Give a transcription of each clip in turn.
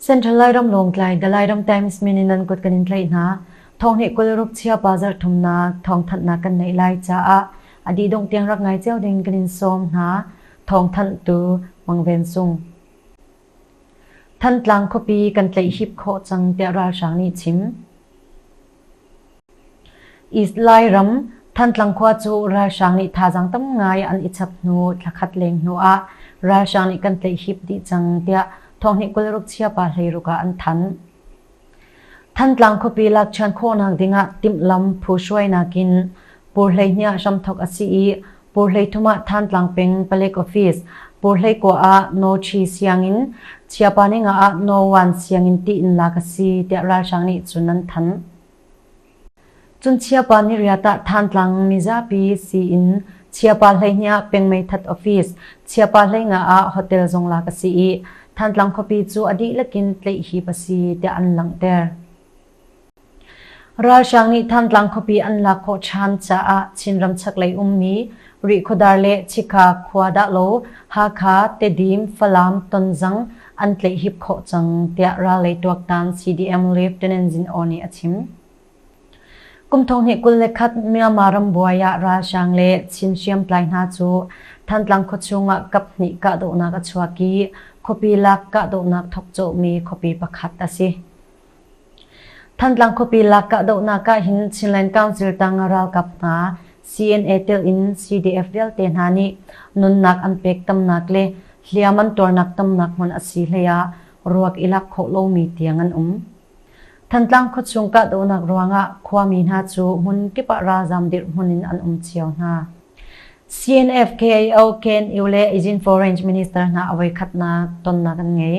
Central Lairam Lawngtlai Dalairam Times mininan kut kan in tlai hna thong he kul rup chia pa zar thum na thong that na kan nei lai cha a adi dong tiang rak ngai cheu ding kan in som hna thong than tu mangven sung Thantlang khuapi kan tlaih hip khawh cang tiah ralhrang nih chim. East Lairam Thantlang khua cu ralhrang nih thazaang tam ngai an i chap hnu thla khat leng hnu ah ralhrang nih kan tlaih hip dih cang tiah thawngnih kul ruk chia pa hlei ruk ah an thanh. Thantlang khuapi lakṭhian khawhnak dingah timhlam phu hruainak in Pur hleihnih hramthawk a si i Pur hleithum ah Thantlang peng Palek Office, Pur hleikua ah No Chi sianginn, Chiapa ninga ah No Wan sianginn tiin lak a si tiah ralhrang nih cun an thanh. Cun chiapa nih riat ah Thantlang mizapi siin chiapa hleihnih ah peng meithat office, chiapa hleingah ah hotel zong lak a si i Thantlang khuapi cu a dihlak in tleih hip a si tiah an langhter. Ralhrang nih Thantlang khuapi an lak khawh ṭhan caah Chinram chaklei ummi Rihkhawdar le Chikha khua dahlo Hakha, Tedim, Falam, Tonzang an tleihhip khawh cang, tiah rallei tuaktan CDM Lieutenant Zin O nih a chim. Kum thonghnih kul le khat Myanmar rambuai ah ralhrang le Chin hriamtlai hna cu Thantlang khuachung ah kaphnih kahdohnak a chuak i khuapi lak kahdohnak thawk cawhmi khuapi pakhat a si. Thantlang khuapi lak kahdohnak ahhin Chinland Council tang ralkap hna CNA tilin CDF vialte hna nih nunnak an pek tamnak le hliam an tuarnak tamnak hmun a si hleiah ruak i lak khawh lomi tiang an um. Thantlang khuachung kahdohnak ruangah khuami hna cu hmun kip ah ralzam dirhmun in an um cio hna. CNF KAO Ken Iule Agent for Range Minister hna awai khatnak tonnak an ngei.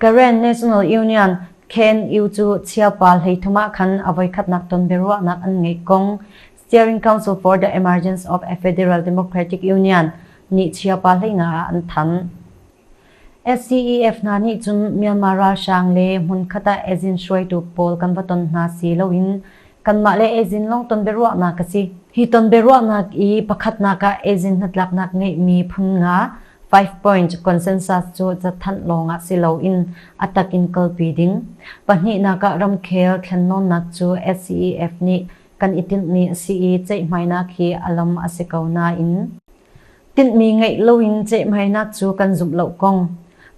Karen National Union, KNU, cu chiaupa hleithum ah khan a voikhatnak ton biaruahnak an ngeih kong Steering Council for the Emergence of a Federal Democratic Union nih chiaupa hleina ah an thanh. SCEF hna nih cun Myanmar ralhrang le hmunkhat ah ejin hruaitu pawl kan va ton hna si loin Kanmah le Eazin lawng tonbiaruahnak a si. Hi tonbiaruahnak i pakhatnak ah Eazin hnatlaknak ngeihmi phun nga, five point, consensus cu cathanh lawng ah si loin a tak in kalpi ding. Pahnihnak ah ramkhel thlennawnnak cu SCEF nih kan i tinhmi a si i ceihhmainak hi a lam a si ko nain Tinhmi ngeih loin cehhmainak cu kan zumh lo kong,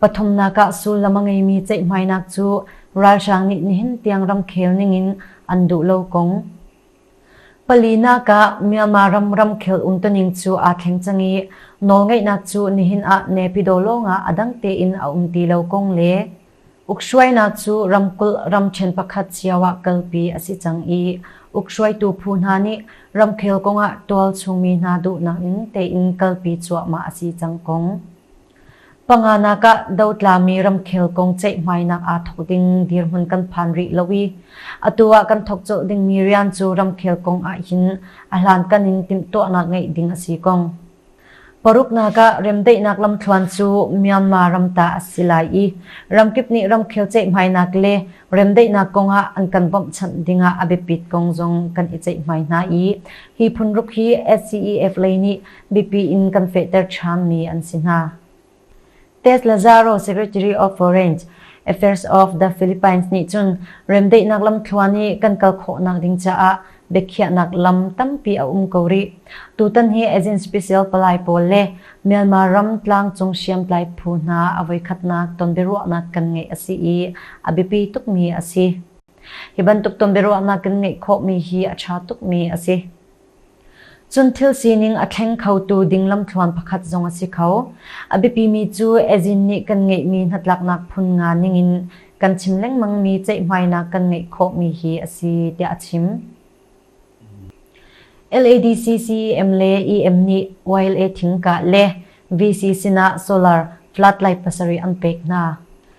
pathumnak ah sullam a ngeimi cehhmainak cu ralhrang nih nihin tiang ramkhel ningin an duh lo kong. Palinak ah Myanmar ram ramkhel umtuning cu aa thleng cang i nawlngeihnak cu nihin ah nepidaw lawngah a dang tein a um ti lo kong le Ukhruainak cu ramkulh ramṭhen pakhat cio ah kalpi a si cang i ukhruaitu phu hna nih ramkhel kong ah tualchungmi hna duhnak in tein kalpi cuahmah a si cang kong, panganak ah dotlami ramkhel kong ceihmainak aa thawk ding dirhmun kan phan rih lo i atu ah kan thawk colh dingmi rian cu ramkhel kong ahhin a hlankan in timhtuahnak ngeih ding a si kong, Paruknak ah remdaihnak lamthluan cu Myanmar ram ta a si lai i ramkip nih ramkhel ceihhmainak le remdaihnak kong ah an kan bawmhchanh ding ah a biapit kong zong kan i ceihhmai hna i hi phun ruk hi SCEF lei nih biapi in kan fehter ṭhan mi an si hna. Tess Lazaro, Secretary of Foreign Affairs of the Philippines nih cun remdaihnak lamthluan i kan kal khawhnak ding caah biakhiahnak lam tampi a um ko rih. Tutan hi Agent Special palai pawl le Myanmar ram tlangcung hriamtlai phu hna a voikhatnak tonbiaruahnak kan ngeih a si i a biapi tukmi a si. Hi bantuk tonbiaruahnak kan ngeih khawhmi hi a ṭha tukmi a si. Cun thil sining a thleng khotu ding lamthluan pakhat zong a si kho. A biapimi cu Azin nih kan ngeihmi hnatlaknak phun nga ningin kan chim lengmangmi ceihhmainak kan ngeih khawhmi hi a si tiah a chim. LADCCEM le EM nih YLA thingkah le VC sinah solar flat lai pasarih an pek hna.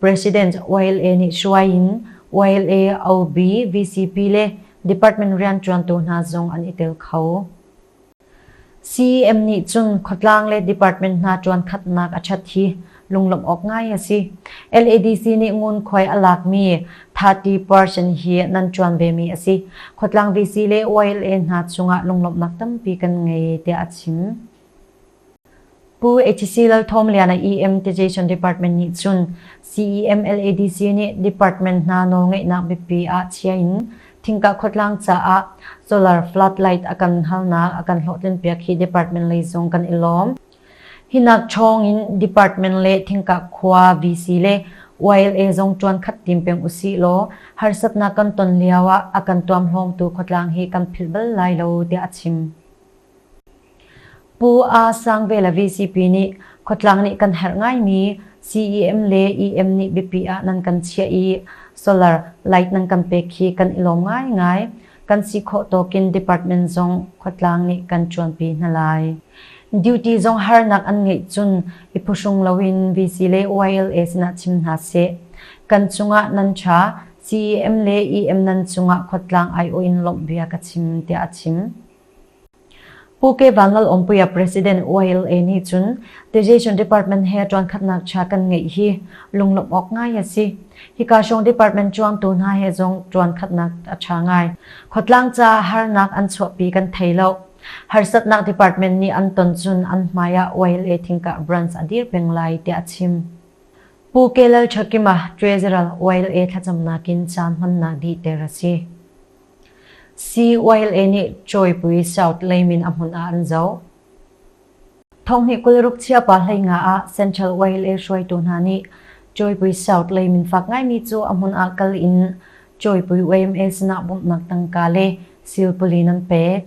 President YLA nih hruai in YLA, OB, VCP le department rianṭuantu hna zong an i tel kho. CEM nih cun khuatlang le department hna ṭuankhatnak a ṭhat hi lunglawmh awk ngai a si. LADC nih ngunkhuai a lakmi 30 person hi nan ṭuan vemi a si. Khuatlang VC le YLA hna cungah lunglawmhnak tampi kan ngei tiah a chim. Pu HC Lal Thawm Liana EM Taxation Department nih cun CEM LADC nih department hna nawlngeihnak biapi ah chia in thingka khuatlang caah solar floodlight a kan halnak a kan hlawhtlinpiak hi department lei zong kan i lawm. Hinak chawng in department le thingka khua VC le YLA zong tuan khat tim peng usi law harsatnak kan ton lio ah a kan tuam hlawmtu khuatlang hi kan philh bal lai lo tiah a chim. Pu Aa Sang ve le VCP nih khuatlang nih kan herh ngaimi CEM le EM nih biapi ah nan kan chiah i solar light nan kan pek hi kan i lawm ngaingai. Kan si khawh tawkin department zong khuatlang nih kan ṭuanpi hna lai. Duty zong harnak an ngeih cun i phuhrung loin VC le YLA sinah chim hna seh. Kan cungah nan ṭha, CEM le EM nan cungah khuatlang aiawh in lawmh bia ka chim, tiah a chim. Pu Ke Vangal Awmpuia President YLA nih cun Education Department he ṭuankhatnak ṭha kan ngeih hi lunglawmh awk ngai a si. Hika hrawng department ṭuangtu hna he zong ṭuankhatnak a ṭha ngai. Khuatlang caah harnak an chuahpi kan thei lo. Harsatnak department nih an ton cun an hmaiah YLA thingkah branch a dir peng lai tiah a chim. Pu Ke Lalṭhakima Treasurer YLA thlacamnak in caan hmannak dihter a si. CYLA nih Cawipui South leimin a hmun ah an zoh. Thonghnih kul ruk chiapa hleinga ah Central YLA hruaitu hna nih Cawipui South leimin fak ngaimi cu a hmun ah kal in Cawipui YMA sinah bawmhnak tangka le silpuli nan pek.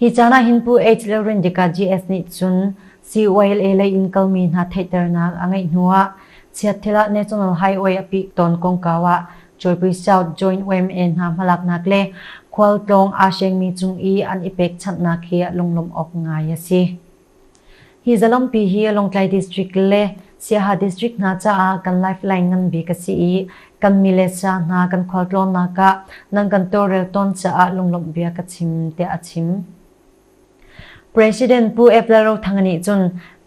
Hi caan ah hin Pu H. Lalrindica GS nih cun CYLA lei in kalmi hna theihternak a ngeih hnuah Chiathil ah National Highway a pik tawn kongkau ah Cawipui South Joint YMA hna hmalaknak le khualtlawng aa sengmi cung i an i pekchanhnak hi lunglawmh awk ngai a si. Hi zalampi hi Lawngtlai District le Siaha District hna caah kan lifeline ngan bik a si i kan mi le sa hna kan khualtlawnnak ah nan kan tawlrel tawn caah lunglawmh bia ka chim tiah a chim. President Pu Ep Lal Rothanga nih cun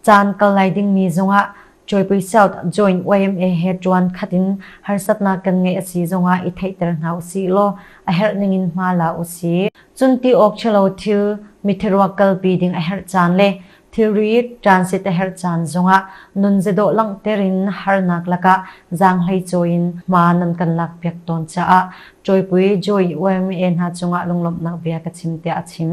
caan kal lai dingmi zongah Joypui South Joint YMA he ṭuan khat in harsatnak kan ngeih a si zongah i theihter hna u sih law a herh ningin hma la u sih. Cun ti awk ṭhalo thil, mithiruak kalpi ding a herh caan le thilri transit a herh caan zongah nun zedawh langhter in harnak lakah zaanghleicawi in hma nan kan lakpiak tawn caah Joypui Joy YMA hna cungah lunglawmhnak bia ka chim tiah a chim.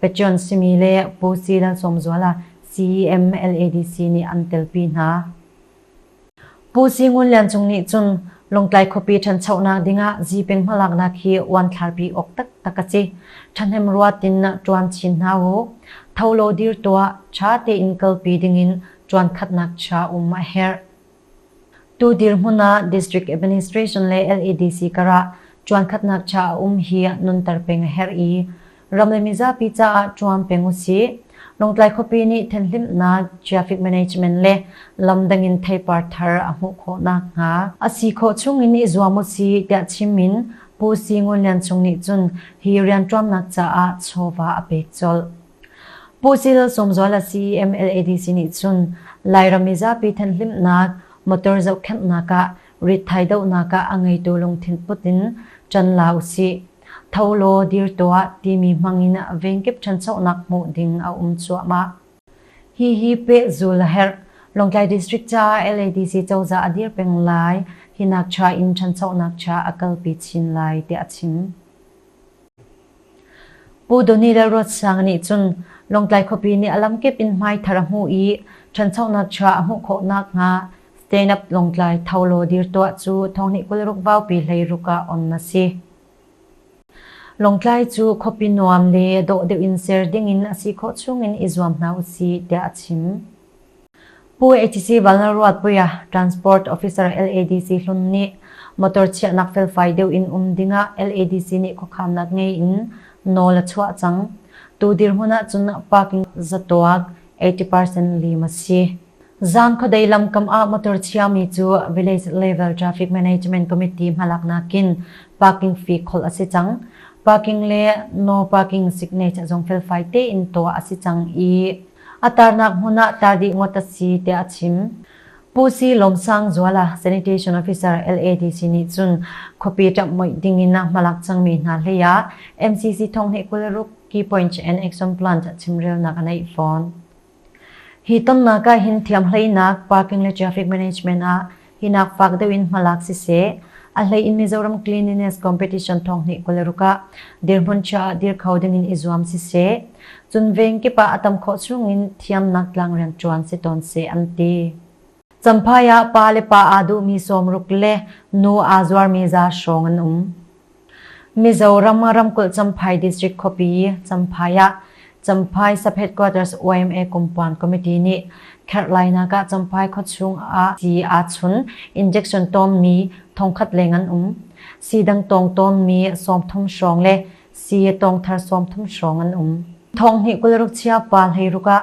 Patreon simi le Pu Si Lalsawmzuala, CEM LADC nih an telpi hna. Pu Si Ngun Lian Cung nih cun Lawngtlai khuapi ṭhanchonak dingah zipeng hmalaknak hi uanthlarpi awk taktak a si. Ṭhahnemruat in ṭuan chin hna u. Tho law dir tuah, ṭha tein kalpi dingin ṭuan khatnak chia um a herh. Tu dirhmun ah District Administration le LADC karah ṭuankhatnak ṭha a um hi nunter peng a herh i ram le mizapi caah ṭuan peng u sih. Lawngtlai khuapi nih thenhlimnak, traffic management le lamdang in theipar thar a hmuh khawh nakhnga a si khawh chungin i zuam u sih tiah chimmin Pu Si Ngun Lian Cung nih cun hi rianṭuannak caah chawva a pek colh. Puhchil Sawmzual a si MLADC nih cun Lairam mizapi thenhlimnak motor zohkhenhnak ah ritthai dohnak ah a ngeitu lungthin put in ṭan la usih. Tho law dir tuah timi hmangin a vengkip ṭhanchonak hmuh ding a um cuahmah. Hihi pehzul a herh. Lawngtlai District caah LADC cozah a dir peng lai. Hi nak cha in ṭhanchonak cha a kalpi chin lai tiah a chim. Pu Doni Lalruatsanga nih cun Lawngtlai khuapi nih a lamkip in hmaithar a hmuh i ṭhanchonak chuah a hmuh khawh nakhnga Stand Up Lawngtlai Tho Law dir tuah cu thonghnih kul ruk vaupi hleiruk ah on a si. Lawngtlai cu khuapi nuam le dawh deuh in ser dingin a si khawh chungin i zuam hna u sih tiah a chim. Pu HC Vanlalruatpuia Transport Officer LADC hlun nih motor chiahnak felfai deuh in um dingah LADC nih khuakhamnak ngei in nawl a chuah cang. Tu dirhmun ahcun parking zatuak 80% lim a si. Zan khuadei lam kam ah motor chiami cu Village Level Traffic Management Committee hmalak nakin parking fee kholh a si cang. Parking le no parking signature zong felfai tein tuah a si cang i a tarnak hmun ah tlar dih ngawt a si tiah a chim. Pu Si Lawm Sang Zual a sanitation officer LADC nih cun khuapi ṭamhmoih ding in a hmalak cangmi hna hlei ah MCC Thonghne kul ruk Key Points and Action Plant ah chimrelnak a neih fawn. Hi tonnak ah hin thiamhleinak, parking le traffic management ah Hinak fak deuh in hmalak siseh, a hlei in Mizoram Cleanliness Competition thawnghnih kul ruk ah dirhmun chia ah dir kho ding in i zuam siseh, cun veng kip ah a tam khawh chung in thiamnak tlang rianṭuan si tawn seh an ti. Champhai ah pa le pa aa duhmi sawm ruk le nu aa zuarmi za hrawng an um. Mizoram ramkulh Champhai District khuapi Champhai ah Champhai Subhead Quarters YMA Compound Committee nih kherhlainak ah Champhai khuachung ah sii aa chun injection tawmmi thongkhat leng an um. Siidang tawng tawmmi sawmthum hrawng le sii tawngthar sawmthum hrawng an um. Thong hnih kul rukchia pa hleiruk ah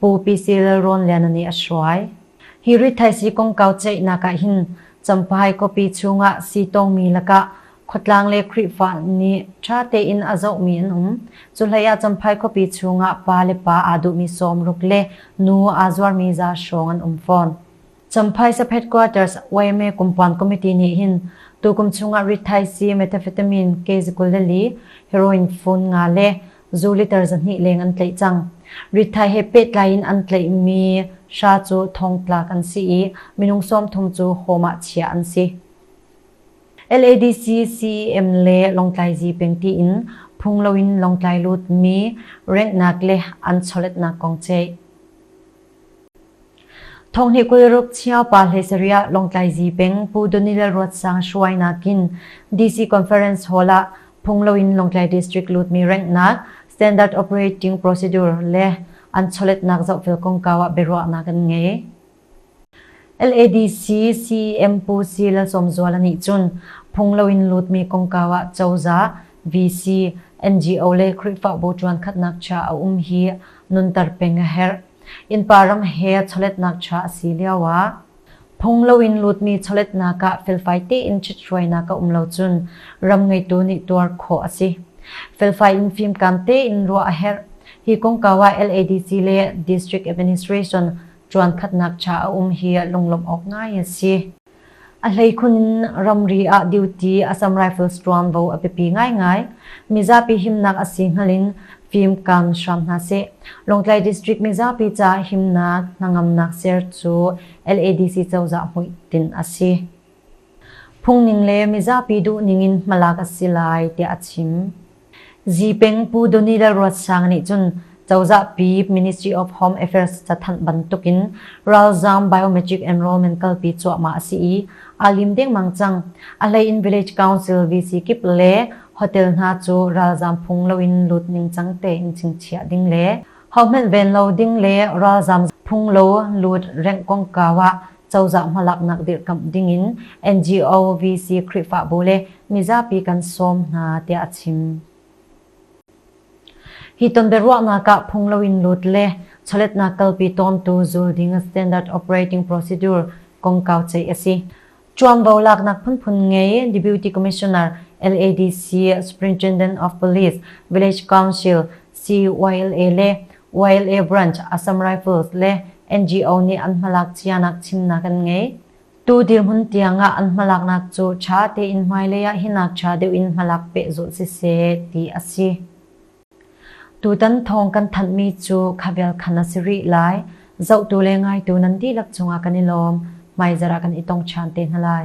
Pu PC Lalrawnliana nih a hruai. Hi rithaisi kongkau ceihnak ah hin Champhai khuapi chungah siitawngmi lakah khuatlang le Khrihfa nih ṭha tein a zohmi an um. Cuhlei ah Champhai khuapi chungah pa le pa aa duhmi sawm ruk le nu aa zuarmi za hrawng an um fawn. Champhai Saphet Quarters YMA Kumpuan Committee nih hin tukum chungah rithaisii methamphetamine ke zakul le li, heroin fun nga le zu liter zahnih leng an tlaih cang. Rithai he pehtlai in an tlaihmi hra cu thongtlak an si i minung sawmthum cu home ah chiah an si. LADC CEM le Lawngtlai Zipeng tiin phung loin Lawngtlai lutmi renghnak le an chawletnak kong ceih. Thawng nih Kawlruk chiaupa hlei sarih Lawngtlaizi peng Pu Daniel Ruatsang hruai nakin DC Conference Hall ah phung loin Lawngtlai District lutmi ranghnak standard operating procedure le an chawletnak zohfel kongkau ah biaruahnak an ngei. LADC CEM Pu Si Lalsawmzuala nih cun phung loin lutmi kongkau ah cozah VC, NGO le Khrihfabu ṭuankhatnak cha a um hi nunter peng a herh. Innpa ram he chawletnak cha a si lioah phung loin lutmi chawletnak ah felfai tein ṭhithruainak a um lo cun ram ngeitu nih tuar khawh a si. Felfai in fimkam tein ruah a herh. Hi kongkau ah LADC le District Administration ṭuankhatnak cha a um hi lunglawmh awk ngai a si. A hleikhun ramri ah duty a cam rifles tuan vo a biapi ngaingai. Mizapi himnak a si hngal in fimkam hram hna sih. Lawngtlai District mizapi ca himnak hnangamnak ser cu LADC cozah hmuitin a si. Phungning le mizapi duhning in hmalak a si lai tiah a chim. Zipeng Pu Donila Ruatsang nih cun cozah pi Ministry of Home Affairs cathanh bantuk in ralzaam biometric enrollment kalpi cuahmah a si i aa lim dengmang cang. A hlei in Village Council VC kip le hotel hna cu ralzaam phung loin lut ningcang tein chingchiah ding le Hohmanh ven lo ding le ralzam phung lo lut rengh kongkau ah cozah hmalaknak dirkamh ding in NGO VC Khrihfabu le mizapi kan sawm hna tiah a chim. Hi ton biaruahnak ah phung lo in lut le chawletnak kalpi tawmtu zul ding standard operating procedure kongkau chei a si. Chuangbo laknak phunphun ngei Deputy Commissioner LADC Superintendent of Police Village Council CYLA le YLA Branch Assam Rifles le NGO nih an hmalak cianak chimnak an ngei. Tu dirhmun tiangah an hmalaknak cu ṭha tein hmailei ah hi nakṭha deuh in hmalak peh zulh siseh ti a si. Tutan thawng kan thanhmi cu khavel khan a si rih lai. Zohtu le ngaitu nan dihlak cungah kan i lawm. Hmaizarh ah kan i tong ṭhan te hna lai.